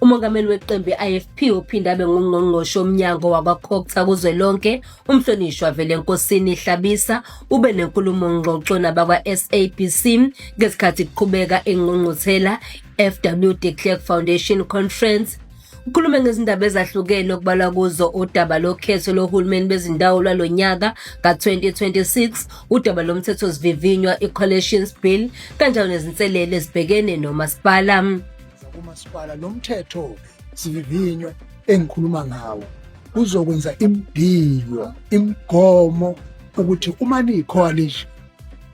Umongameli weqembu i-IFP ophinde abe ngungqongqoshe omnyango wakwaCogta kuzwelonke umhlonishwa Velenkosini Hlabisa ube nenkulumo ngxoxo nabakwa-SABC ngesikhathi kuqhubeka ingqungquthela FW de Klerk Foundation Conference ukhulume ngezindaba ezahlukene okubalwa kuzo udaba lokhetho lohulumeni bezindawo lwalo nyaka ka-2026 udaba lomthethosivivinywa i-collations bill kanjalo nezinselele ezibhekene nomasipala kumasipala lo mthetho sivivinywe engikhuluma ngawo uzokwenza imdiyo imigomo ukuthi uma niyicoalition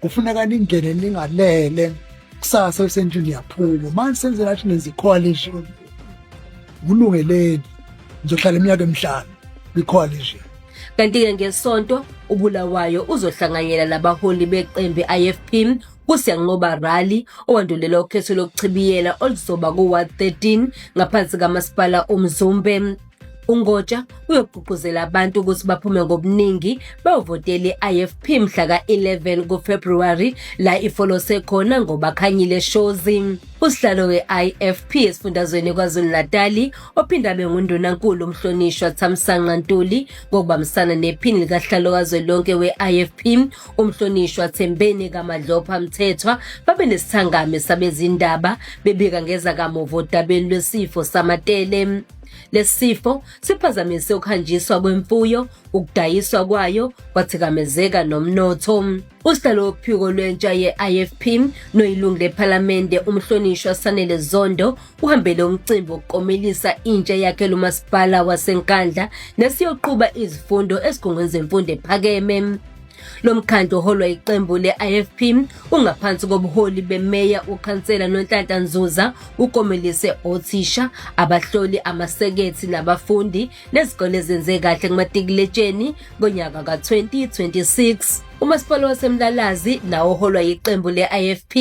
kufuneka ningene ningalele kusasa lisendlini niyaphuma uma senze nathi nenza icoalition kulungeleni ngizohlala iminyaka emihlanu kwicoalition kanti-ke ngesonto ubulawayo uzohlanganyela nabaholi beqembu i-ifp kuSiyanqoba Rally owandulela ukhetho lokuchibiyela oluzoba ku-ward 13 ngaphansi kamasipala uMzumbe. UNgotsha uyogqugquzela abantu ukuthi baphume ngobuningi bevotele i-IFP mhla ka-11 kuFebruary la ifolose khona ngobakhanyile Shozi. Usihlalo we-IFP esifundazweni KwaZulu-Natali ophinde abe ngundunankulu umhlonishwa Thamsanqa Ntuli ngokubambisana nephini likasihlalo kazwelonke we-IFP uMhlonishwa Thembeni kaMadlopha Mthethwa babe nesithangami sabezindaba bebika ngeza kamuva odabeni lwesifo samatele. Lesifo siphazamise ukuhanjiswa kwemfuyo, ukudayiswa kwayo, kwathikamezeka nomnotho. Usihlalo wophiko lwentsha ye-IFP noyilungu lephalamende umhlonishwa Sanele Zondo uhambele umcimbi wokukomelisa intsha yakhe lomasipala waseNkandla nesiyoqhuba izifundo esigungwini zemfundo ephakeme. Lo mkhandlu oholwa iqembu le-IFP ungaphansi kobuholi bemeya ukhansela Nonhlanhla Nzuza ukomelise othisha, abahloli, amasekethi nabafundi nezikole ezenze kahle kumatikuletsheni ngonyaka ka-2026. Umasipala waseMlalazi nawo oholwa yiqembu le-IFP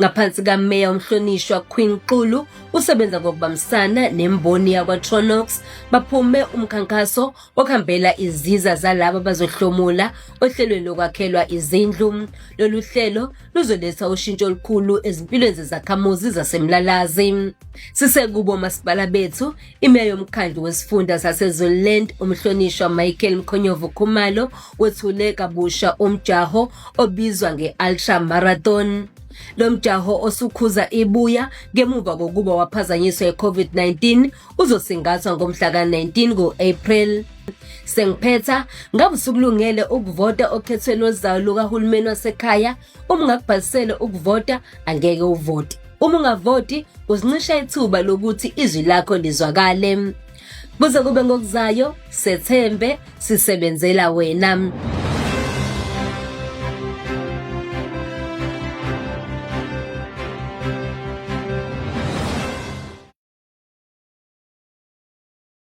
ngaphansi kaMeya uMhlonishwa Queen Xulu usebenza ngokubambisana nemboni yakwaTronox baphume umkhankaso okhambela iziza zalaba bazohlomula ohlelweni lokwakhelwa izindlu. Lolu hlelo luzoletha ushintsho olukhulu ezimpilweni zezakhamuzi zaseMlalazi. Sisekubo masipala bethu Imeya yomkhandlu wesifunda saseZululand umhlonishwa Michael Mkhonyovu Khumalo wethule kabusha umjaho obizwa nge-Ultra Marathon. Lo mjaho osukhuza ibuya ngemuva kokuba waphazanyiswa i-COVID-19 uzosingathwa ngomhla ka-19 ku-April. Sengiphetha ngabe usukulungele ukuvota okhethweni lozayo lukahulumeni wasekhaya Uma ungakubhalisele ukuvota angeke uvote. Uma ungavoti uzincisha ithuba lokuthi izwi lakho lizwakale. Kuze kube ngokuzayo, sethembe sisebenzela wena.